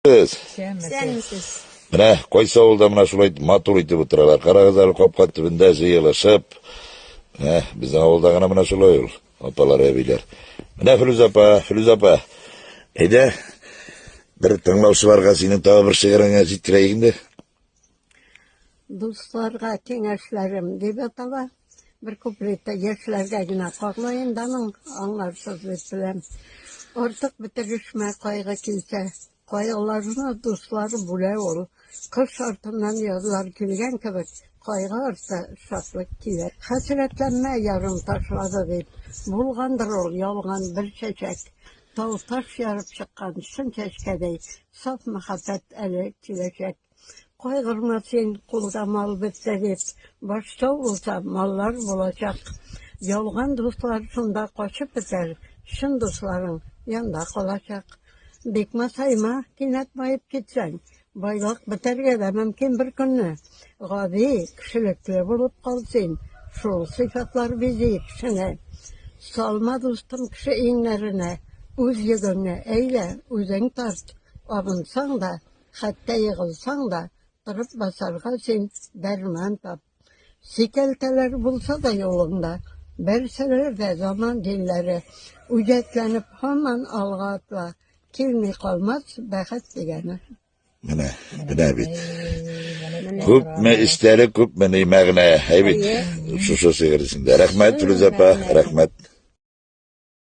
Сез. Исәнмесез. Менә кайсы авылда менә шулай матур итеп утыралар. Карагыз әле капка төбендә җыелышып. Менә безнең авылда гына менә шулай ул. Апалар, әбиләр. Менә Филүз апа, Филүз апа. Әйдә. Бер тыңлаучыларга синең тагы бер шигыреңне җиткерәйек инде. Дусларга киңәшләрем дип атала. Бер куплетта яшьләргә генә кагылаен да моң аңларсыз дип беләм. Артык бетерешмә кайгы килсә, кайгыларны дуслары бүлә ул. Кыш артыннан язлар килгән кебек, кайгы арты шатлык килә. Хәсрәтләнмә ярым ташлады дип, булгандыр ул ялган бер чәчәк. Тау-таш ярып чыккан чын чәчкәдәй, саф мәхәббәт әле киләчәк. Кайгырма син, кулда мал бетте дип, Баштау булса, маллар булачак. Ялган дуслар шунда качып бетәр, Чын дусларың янда калачак. Бик масайма, кинәт баеп китсәң, Байлык бетәргә дә мөмкин бер көнне. Гади, кешелекле булып кал син, Шул сыйфатлар бизи кешене. Салма, дустым, кеше иңнәренә, Үз йөгеңне, әйдә, үзең тарт. Абынсаң да, Хәтта егылсаң да, торып басарга син дәрман тап. Сикәлтәләр булса да юлыңда, бәрсәләр дә заман динләре, үҗәтләнеп һаман алга атла, килми калмас бәхет дигәне. Менә, менә бит. Күпме эчтәлек, күпме ни мәгънә. Әй бит, шушы шигырь эчендә. Рәхмәт, Филүзә апа, рәхмәт.